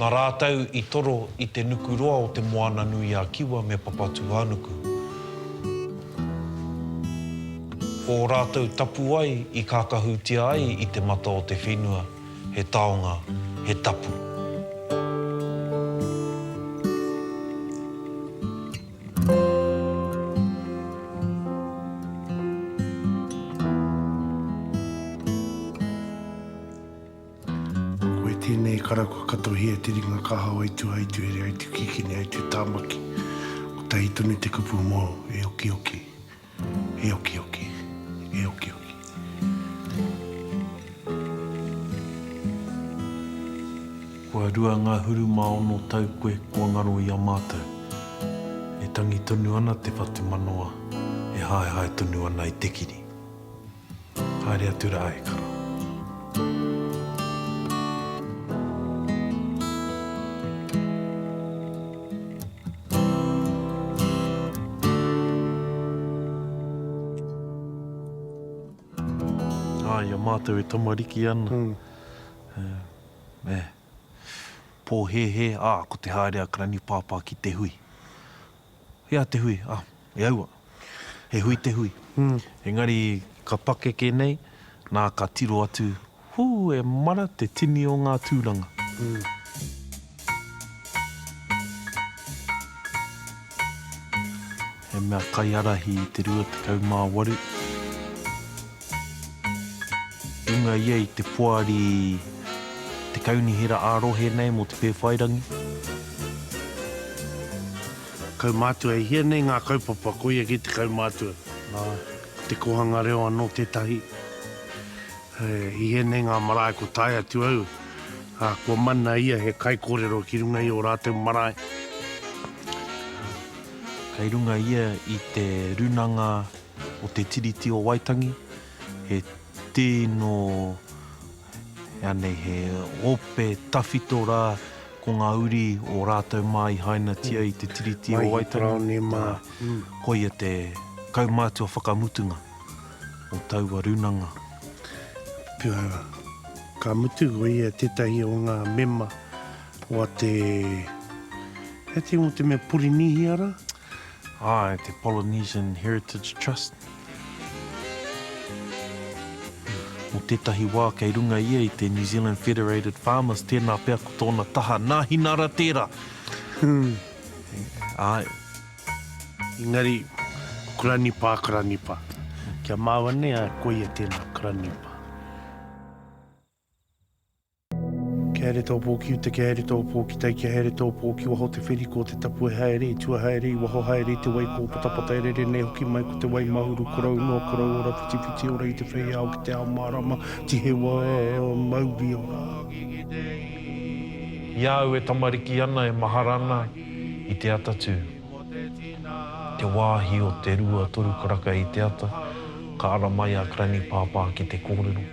Nā rātou i toro i te nuku roa o Te Moana-nui-a-Kiwa me Papatūānuku. Ko ō rātou tapuwae i kākahutia ai i te mata o te whenua, he taonga, he tapu. Koe tēnei kara kua katohia te ringa kaha o Aitu Aitu here Aitu Kikini Aitu Tāmaki Kotahi tonu te kupu mō E okioki E okioki E okioki Kua rua ngā huru mā ono tau koe kua ngaro i a mātou E tangi tonu ana te whatumanawa E haehae tonu ana i te kiri. Haere atu rā e kara. Ā, i a mātou e tamariki ana, e, pōhēhē, ā, ko te haere a Granny Pāpā ki te hui. E a te hui, ah, e aua. He hui te hui. Engari ka pakeke nei, na ka tiro atu, Hu, e mara te tini o nga turanga. He mea kaiarahi i te rua tekau ma waru. Runga ia i te poari te kaunihera ā-rohe nei mō te Pēwhairangi. Kaumātua, e hia nei ngā kaupapa, koia ki te kaumātua. Nāe. Ko te kōhanga reo anō tētahi. I hia nei ngā marae kua tae atu au, ā, kua mana ia he kaikōrero ki runga i ō rātou marae. Kei runga ia i te runanga o te Tiriti o Waitangi, he tino, anei, he ope tawhito rā, ko ngā uri o rātou mā i hainatia i te Tiriti o Waitangi, koia te kaumātua whakamutunga o taua rūnanga. Ka mutu, ko ia tētahi o ngā mema o te, hei te ingoa o te mea, Porinīhia rā? Āe, te Polynesian Heritage Trust. Mō tētahi wā kei runga ia i te New Zealand Federated Farmers, tēnā pea ko tōna taha Nāhinara tērā. Āe. Engari, ko Kuranipa a Kuranipa. Ki a māua nei, āe, koia tēnā, Kuranipa. Kia haere tō pō ki uta, kia haere tō pō ki tai, kia haere tō pō ki waho o te wheriko, te tapu e haere, i tua haere, i waho haere, i te wai kō patapata e rere nei hoki mai ko te wai mahuru korou noa, korou ora, whitiwhiti ora i te whei ao ki te ao mārama, tihewa, mauri ora. I a au e tamariki ana e mahara ana i te ata tū. Te wāhi o te rua toru karaka i te ata, ka ara mai a Granny Pāpā ki te kōrero.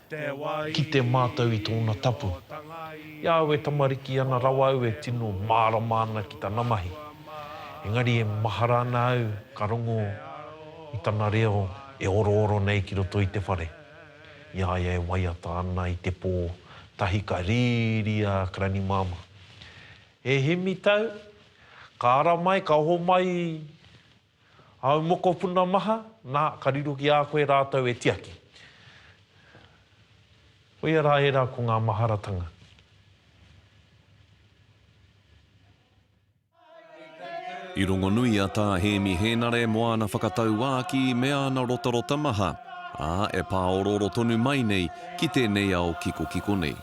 Kite mātou i tōna tapu. I a au e tamariki ana rawa au e tino mārama ana ki tana mahi. Engari e mahara ana au ka rongo i tana reo e orooro nei ki roto i te whare. I a ia e waiata ana i te pō tahi ka rīri a Granny Mama. E Hemi tau, ka ara mai, ka oho mai Āu mokopuna maha, nā, ka riro ki a koe rātou e tiaki. Koia rā ērā ko ngā maharatanga. I rongonui a Tā Hēmi Hēnare mō āna whakatauākī me āna rotarota maha, ā, e pāorooro tonu mai nei ki tēnei ao kikokiko nei.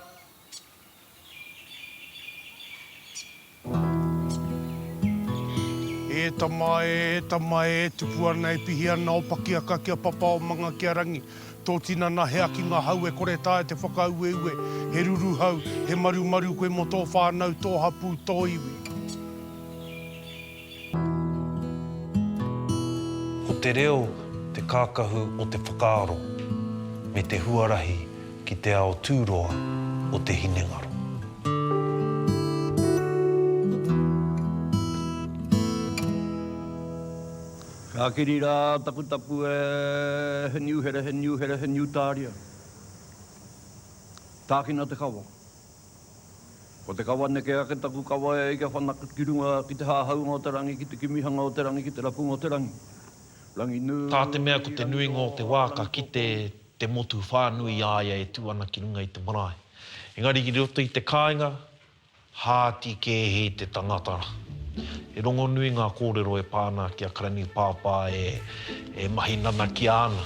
E tama e, e tama e, e tupu ana, e pihi ana o Pakiaka ki a Papa o Mangakiarangi. Tō tinana he aki ngā hau e kore tae te whakaueue, he ruruhau, he marumaru koe mō tō whānau, tō hapū, tō iwi. Ko te reo te kākahu o te whakaaro me te huarahi ki te ao tūroa o te hinengaro. Ka kiri rā taku tapu e, he niu here, he niu here, he niu tāria. Tākina te kawa. Ko te kawa neke ake taku kawa e ai kia whanake ki runga ki te hāhaunga o te rangi, ki te kimihanga o te rangi, ki te rapunga o te rangi. Rangi nui, rangi nui, rangi nui. Tā te mea ko te nuinga o te wā ka kite te motu whānui i a ia e tū ana ki runga i te marae. Engari ki roto i te kāinga, hāti kē hē te tangata. He rongonui ngā kōrero e pā ana ki a Karanipāpā e mahi nanakia ana.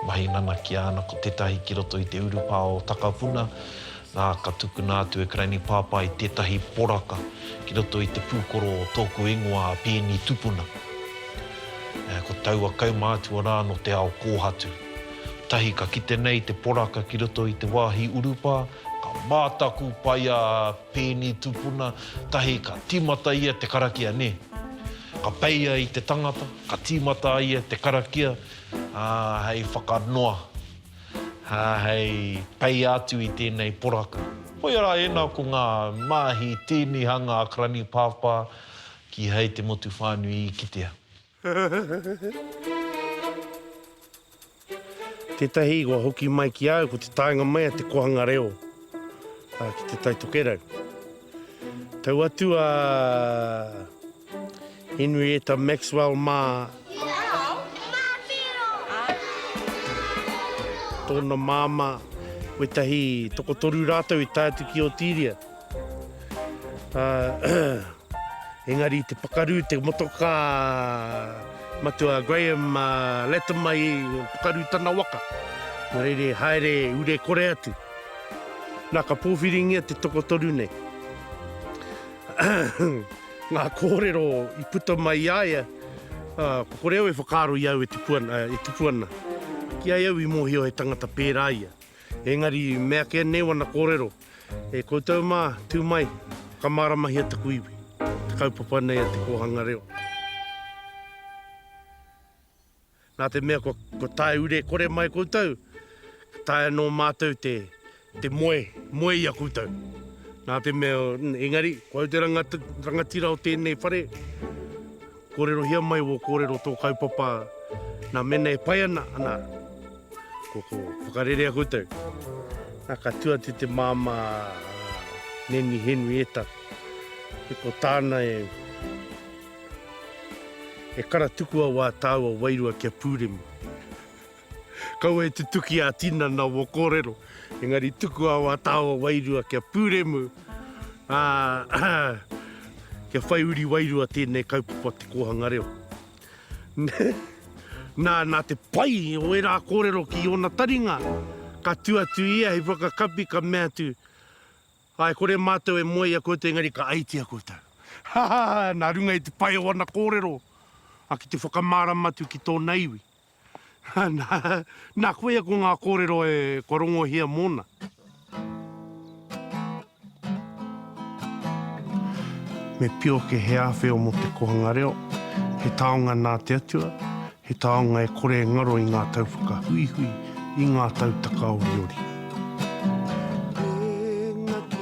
Mahi nanakia ana ko tetahi ki roto i te urupā o Takapuna, na ka tukuna atu e Karaini Pāpai tetahi poraka ki roto i te pūkoro o tōku ingoa a Peeni Tupuna. Ko taua kaumātua rā no te ao kōhatu. Tahi ka kite nei te poraka ki roto i te wāhi urupā, ka mātaku pai a. Pēni tupuna tahi ka tīmata ia te karakia nē. Ka peia i te tangata, ka tīmata a ia te karakia, ā, hei whakanoa, ā, hei peia atu i tēnei poraka. Hoi ara ēnā ko ngā māhi tēnihanga a Karani Pāpā kīhai te motu whānui i kitea. Tētahi i kua hoki mai ki a au ko te taenga mai a te kohanga reo ki te Tai Tokerau. Tau atu a Henrietta Maxwell mā tōna māmā, wetahi tokotoru rātou i tae atu ki Otiria. Engari te pakaru, te motokā matua a Graham Latimer i pakaru tana waka. Nō reira, haere ure kore atu. Nā, ka pōwhiringia te tokotoru nei. Ngā kōrero i puta mai i a ia, ko kore au e whakaaro i a au e tupu ana, e tupu ana. Ki a au i mōhio he tangata pērā ia. Engari, meakea nei wana kōrero. E koutou mā, tū mai, whakamāramahia taku iwi, te kaupapa nei a Te Kōhanga Reo. Nā te mea kua, kua tae ure kore mai koutou, ka tae anō mātou te, te moe, moe i a koutou. Nā te mea, engari, ko au te ranga, rangatira o tēnei whare, Kōrerohia mai wō kōrero tō kaupapa nā mēnā e pai ana, ana ko ko whakarerea koutou. Nā ka tū atu te māmā Neni Henrietta e ko tāna e e kara tukua wā tāua wairua kia pūremu. Kaua e tutuki a tinana wo korero, engari tuku awa tawa wairua kia puremu, a kia whai uri wairua tenei kaupapa te kohanga reo. Na, na te pai o era korero ki ona taringa, ka tu atu ia hei whakakapi ka mea atu, Ae, kore matou e moe i a koutou engari ka aitia koutou. Hahaha, na runga i te pai o ana korero, a ki te whakamarama atu ki tona iwi. Nā koia ko ngā kōrero e kua rongohia mōna. Me pioke he āwheo mō te kohanga reo, he taonga nā te Atua, he taonga e kore e ngaro i ngā tau whakahuihui, i ngā tau takaoriori. Engaki,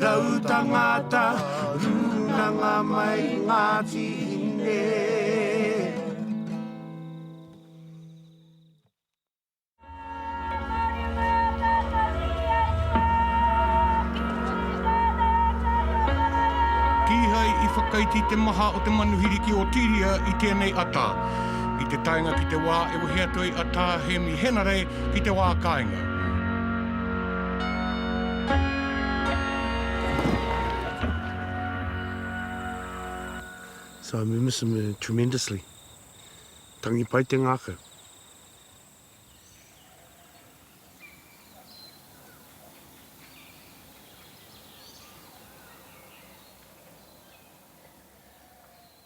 Rau tangata, runanga mai Ngāti Hine. Kīhai i whakaiti te maha o te manuhiri ki Otiria i tēnei ata. I te taenga ki te wā e wehe atu ai a Tā Hēmi Henare ki te wā kāinga. So we miss him uh, tremendously. Tangi pai te ngākau.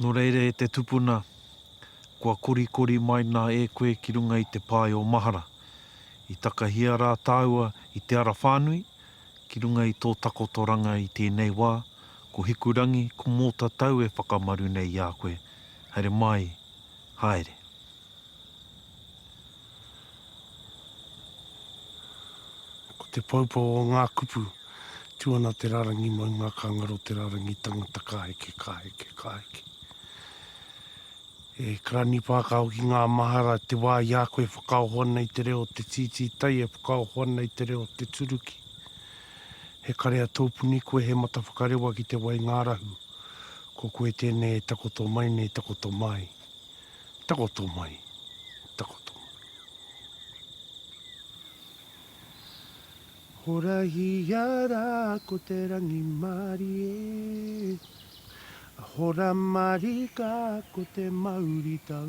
Nō reira e te tupuna, kua korikori mai nā e koe ki runga i te pae o mahara. I takahia rā tāua i te ara whānui, ki runga i tō takotoranga i tēnei wā, ko Hikurangi, ko Mōtatau e whakamaru nei i a koe. Haere mai, haere. Ko te poupou o ngā kupu, tu ana te rarangi maunga ka ngaro te rarangi tangata ka heke, ka heke, ka heke. E Karani Pākao ki ngā mahara te wā i a koe whakaoho ana i te reo o te tītītai e whakaoho ana i te reo o te turuki. He karea tōpuni koe he mata whakarewa ki te waingārahu, ko koe tēnei e takoto mai nei takoto mai. Takoto mai, takoto mai. Horahia ra ko te rangimārie, Hora marika ko te mauritau.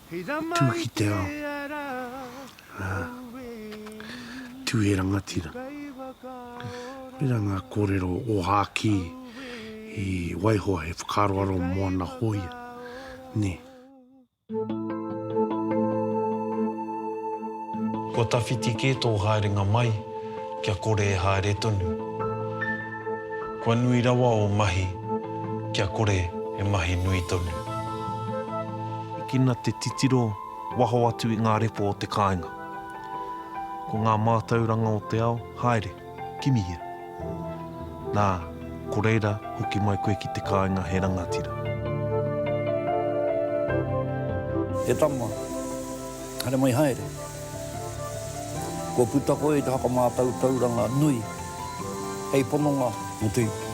tū ki te ao, ā, tū he rangatira. Koirā ngā kōrero ōhākī i waiho he whakaaroaro mō ana hōia, nē. Kua tawhiti kē tō haerenga mai kia kore e haere tonu. Kua nui rawa ō mahi kia kore e mahi nui tonu. Hikina te titiro waho atu i ngā repo o te kāinga. Ko ngā mātauranga o te ao, haere, kimihia. Nā, ko reira, hoki mai koe ki te kāinga he rangatira. He tama, haere mai haere. Kua puta koe i te whakamātautauranga nui hei pononga motuhake.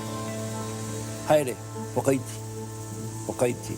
Haere, whakaiti, whakaiti.